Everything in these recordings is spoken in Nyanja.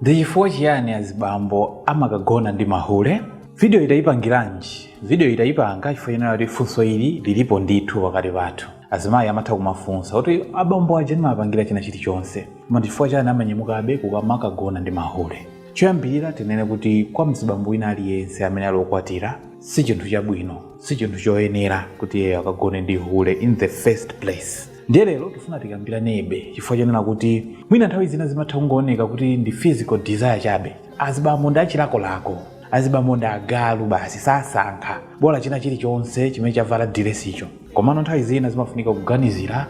Ndi chifukwa chiyani azibambo amakagona ndi mahule? Video yi tayipangiranji? Video yi tayipanga chifukwa chonena kuti funso ili lilipo ndithu pakati pathu. Azimayi amatha kumafunsa kuti abambo aja ndimawapangila china chilichonse koma ndi chifukwa chani amanyamukabe kukamakagona ndi mahule? Choyambilira tinene kuti kwa mzibambo wina aliyense amene ali okwatira si chinthu chabwino, si chinthu choyenera kuti iyeyo akagone ndi hule in the first place. ndiye lero tifuna tikambiranebe chifukwa chonena kuti mwina nthawi zina zimatha kungooneka kuti ndi physical desire chabe azibambo ndi achilakolako azibambo ndi agalu basi sasankha bola china chilichonse chimene chavala diresicho komano nthawi zina zimafunika kuganizira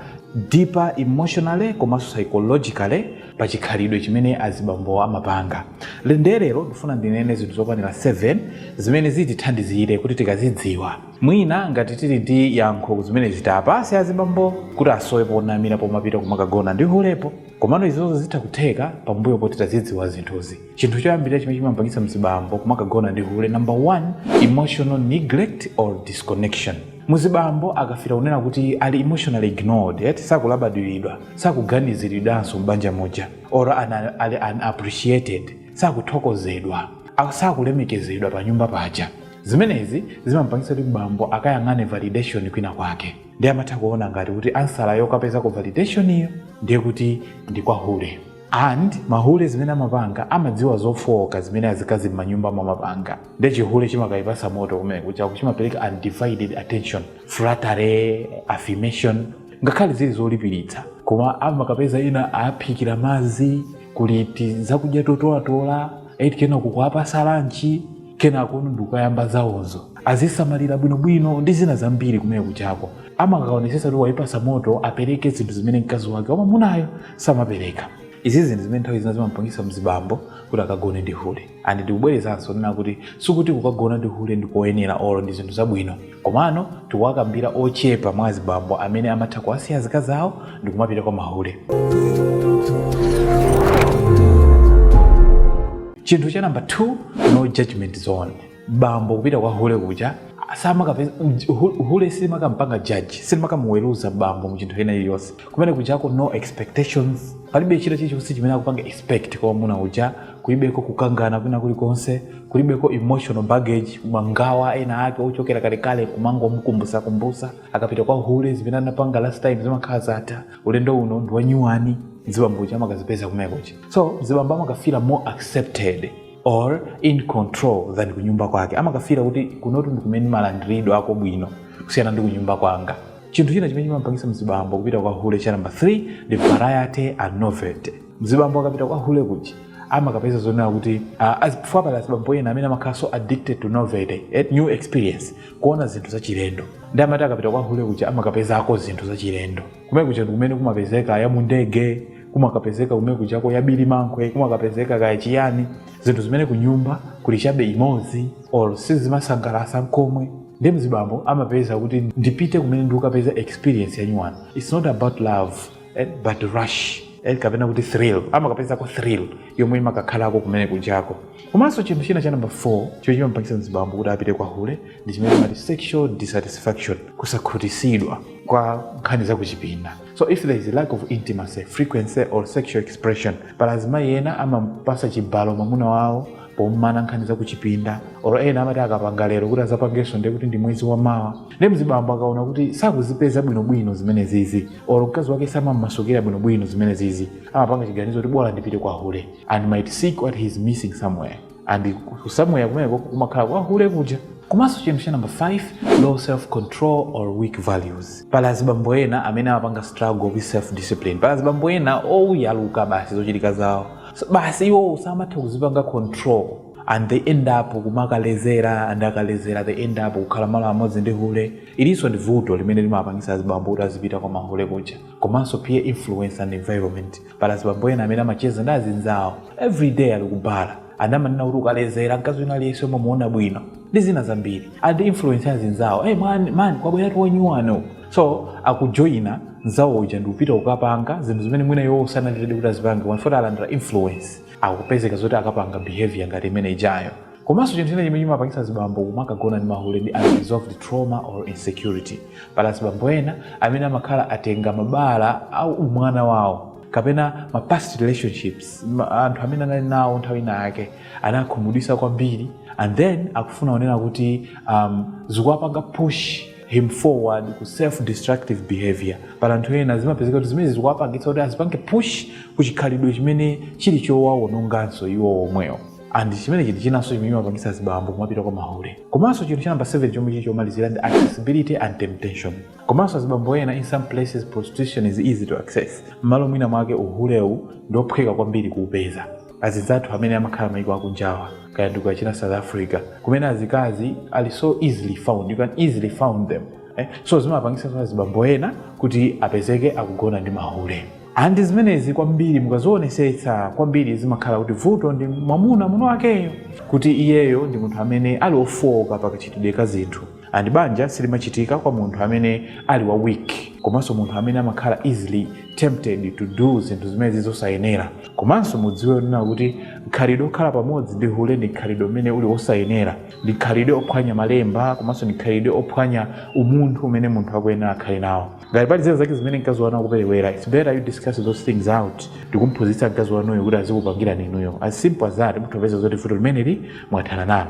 deeper emotionally komanso psychologically pa chikhalidwe chimene azibambo amapanga ndiye lero ndifuna ndinene zinthu zokwanira 7 zimene zitithandizire kuti tikazidziwa Mwina ngati tili ndi yankho kuzimenezi tiapase azibambo kuti asowe ponamira pomapita kumakagona ndi hulepo. Komano izozo zitha kutheka pambuyo poti tazidziwa zinthuzi. Chinthu choyambilira chimene chimamupangitsa mzibambo kumakagona ndi hule number one emotional neglect or disconnection. Muzibambo akafila kunena kuti ali emotionally ignored eti sakulabadilidwa, sakuganizilidwanso m'banja muja or ali unappreciated sakuthokozedwa, sakulemekezedwa panyumba paja. Zimenezi zimamupangitsa kuti bambo akayang'ane validation kwinakwake ndiye amatha kuona ngati kuti answer yokapezako validation yo ndiye kuti ndi kwa hule and mahule zimene amapanga amadziwa zofooka zimene azikazi m'manyumba mwawo amapanga ndiye chihule chimakayipasa moto kumenekujaku chimapereka undivided attention flattery affirmation ngakhale zili zolipiritsa koma amakapeza ena awaphikira madzi kuliti zakudya totolatola eti kena kukawapasa lanchi kenako ndikukayamba zawozo awasamalira bwinobwino ndi zina zambiri kumenekujako amakaonesesa kuti waipasa moto apereke zinthu zimene mkazi wake wa mamunayo samapereka izi zinthu zimene nthawi zina zimapangisa mzibambo kuti akagone ndi hule and ndikubwerezanso nena kuti sikuti kukagona ndi hule ndikoyenera olo ndi zinthu zabwino Komano tikuwakambira ochepa mwa azibambo amene amatha kuwasiya azikazi awo ndikumapita kwa mahule. Chinthu cha number 2, no judgment zone. Bambo kupita kwa hule kuja amakapeza hule silimakampanga judge silimakamuweruza bambo mu chinthu china chilichonse kumene kujako no expectations palibe china chilichonse chimene akupanga expect kwa mwamuna uja kulibeko kukangana kwina kulikonse kulibeko emotional baggage mangawa ena ake ochokera kalekale kumangomkumbusa kumbusa akapita kwa hule zimene anapanga last time zimakhala zatha ulendo uno ndi wanyuwani zibambo uja amakazipeza kumekocha so zibambo amakafila more accepted or in control than kunyumba kwake amakafila kuti kunotu ndi kumene malandiridwe ako bwino kusiyana ndi kunyumba kwanga chinthu china chimene chimapangisa mzibambo kupita kwa hule cha namba 3 ndi variety and novelty mzibambo akapita kwa hule kuja amakapeza zonena kuti uh, as before pali azibambo ena amene amakhala so addicted to novelty and new experience kuona zinthu zachilendo nde amati akapita kwa hule kuja amakapezako zinthu zachilendo kumene kuja ndi kumene kumapezeka ya mundege kumakapezeka kumene kujako ya bilimankhwe kumakapezeka kaya chiyani zinthu zimene kunyumba kuli chabe imodzi or sizimasangalasa nkomwe nde mzibambo amapeza kuti ndipite kumene ndikapeza experience yanyuwani it's not about love eh, but rush eh, kapena kuti thrill amakapezako thrill yomwe imakakhalako kumene kujako komanso chinthu china cha namba 4 chomwe chimapangitsa mzibambo kuti apite kwa hule ndi chimene chimati sexual dissatisfaction kusakhutisidwa kwa nkhani za kuchipinda so if there is a lack of intimacy frequency or sexual expression pali azimayi ena amapasa chibalo mwamuna wawo pomana nkhani za kuchipinda or ena amati akapanga lero kuti azapangenso ndiye kuti ndi mwezi wamawa nde mzibambo akaona kuti sakuzipeza bwinobwino zimene zizi or mkazi wake samammasukira bwinobwino zimene zizi amapanga chiganizo kuti bola ndipite kwa hule and might seek what he is missing somewhere and ku- somewhere kumeneko kumakhala kwa hule kuja komanso chinthu cha number 5 low self control or weak values pali azibambo ena amene amapanga struggle with self discipline pali azibambo ena oyaluka basi zochitika zawo So, basi iwo samatha kuzipanga control and they end up kumakalezera and akalezera they end up kukhala malo amodzi ndi hule ilinso ndi vuto limene limapangisa azibambo kuti azipita kwa mahule kuja komanso peer influence and environment pali azibambo ena amene amacheza ndi azinzawo every day ali ku bar and amanena kuti ukalezera mkazi wina aliyense omwe muona bwino ndi zina zambiri and influence azinzawo hey, man, man kwabweratu wanyuwano so akujoyina nzawo uja ndikupita kukapanga zinthu zimene mwina iwo sanali ready kuti azipange chifukwa choti alandira influence akupezeka zoti akapanga behavior ngati imene ijayo komanso chinthu china chimene chimapangitsa azibambo kumakagona ndi mahule ndi unresolved trauma or insecurity pali azibambo ena amene amakhala atenga mabala a umwana wawo kapena ma past relationships ma, anthu amene anali nawo nthawi ina yake anawakhumudwisa kwambiri and then akufuna kunena kuti um, zikuwapanga push him forward ku self destructive behavior pali anthu ena zimapezeka kuti zimene zikuwapangitsa kuti azipange push ku chikhalidwe chimene chili chowawononganso iwo omwewo and chimene chinthu chinanso chimene chimapangitsa azibambo kumapita kwa mahule komanso chinthu chanamba 7 chomwe chili chomalizira ndi accessibility and temptation komanso azibambo ena in some places prostitution is easy to access mmalo mwina mwake uhulewu ndi ophweka kwambiri kuupeza azinzathu amene amakhala maiko akunjawa kaya ndi ku achina south africa kumene azikazi ali so easily found you can easily found them eh? so zimapangisa azibambo ena kuti apezeke akugona ndi mahule and zimenezi kwambiri mukazionesetsa kwambiri zimakhala kuti vuto ndi mwamuna muna wakeyo kuti iyeyo ndi munthu amene ali ofooka pakachitidwe ka zinthu and banja silimachitika kwa munthu amene ali wa weak komanso munthu amene amakhala easily tempted to do zinthu zimene zili zosayenera komanso mudziwe kunena kuti khalidwe okhala pamodzi ndi hule ndi khalidwe umene uli wosayenera ndi khalidwe ophwanya malemba komanso ndi khalidwe ophwanya umunthu umene munthu akuyenera akhale nawo ngati pali zina zake zimene mkazi wanu akuperewera its better you discuss those things out ndikumphunzitsa mkazi wanuyo kuti azikupangirani inuyo as simple as that mutha kupeza zoti vuto limeneli mwathana nalo